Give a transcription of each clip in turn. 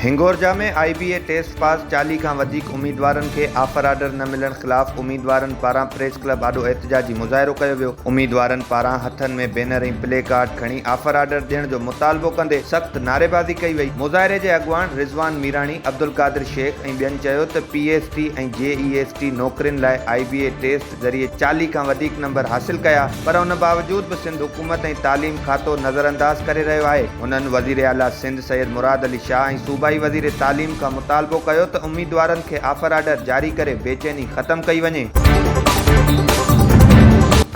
Hingorja ۾ I B A test pass چاليهه کان وڌيڪ اميدوارن کي آفر آرڊر نه ملڻ خلاف اميدوارن پاران پريس ڪلب آڏو احتجاجي مظاهرو ڪيو ويو اميدوارن پاران هٿن ۾ بينر ۽ پلي ڪارڊ کڻي آفر آرڊر ڏيڻ جو مطالبو ڪندي سخت نعريبازي ڪئي وئي مظاهري جي اڳواڻ رضوان ميراڻي عبدالقادر شيخ ٻين چيو ته P S T ۽ J E S T نوڪرين لاء آء بي اي ٽيسٽ ذريعي چاليهه کان وڌيڪ نمبر حاصل ڪيا پر ان باوجود به سنڌ حڪومت ۽ تعليم کاتو نظرانداز ڪري رهيو آهي. هنن وزير اعليٰ سنڌ سيد مراد علي شاهه ۽ صوبائي وزير تعليم کان مطالبو ڪيو ته اميدوارن کي آفر آرڊر جاري ڪري بيچيني ختم ڪئي وڃي.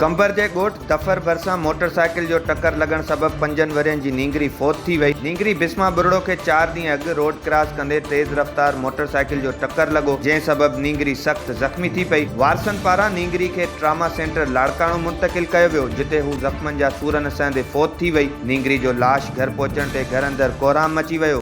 قمبر جي ڳوٺ ٽڦر ڀرسان موٽر سائيڪل جو ٽڪر لڳڻ سبب پنجن ورهين جي نينگري فوت ٿي وئي. نينگري بسما ٻرڙو کي چار ڏينهن اڳ روڊ ڪراس ڪندي تيز رفتار موٽر سائيڪل جو ٽڪر لڳو، جنهن سبب نينگري سخت زخمي ٿي پئي. وارثن پاران نينگري کي ٽراما سينٽر لاڙڪاڻو منتقل ڪيو ويو، جتي هو زخمن جا سور نه سهندي فوت ٿي وئي. نينگري جو لاش گهر پهچڻ تي گهر اندر ڪورهام مچي ويو.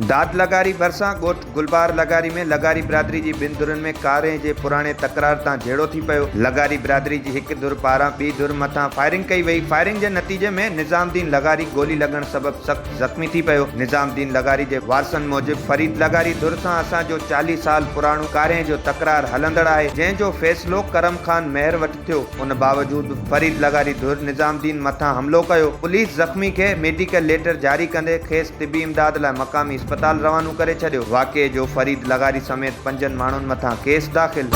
داد لغاري ڀرسان ڳوٺ گلبهار لغاري ۾ لغاري برادري جي ٻن ڌرين ۾ ڪارنهن جي پراڻي تڪرار تان جهيڙو ٿي پيو. لغاري برادري جي هڪ ڌر پاران ٻي ڌر مٿان فائرنگ ڪئي وئي. فائرنگ جي نتيجي ۾ نظام الدين لغاري گولي لڳڻ سبب سخت زخمي ٿي پيو. نظام الدين لغاري جي وارثن موجب فريد لغاري ڌر سان اسان جو چاليهه سال پراڻو ڪارنهن جو تڪرار هلندڙ آهي، جنهن جو فيصلو ڪرم خان مهر وٽ ٿيو ان باوجود به فريد لغاري ڌر نظام الدين مٿان حملو ڪيو پوليس زخمي کي ميڊيڪل ليٽر جاري ڪندي کيس طبي امداد لاء مقامي اسپتال روانو ڪري ڇڏيو واقعي جو فريد لغاري سميت پنجن ماڻهن مٿان ڪيس داخل.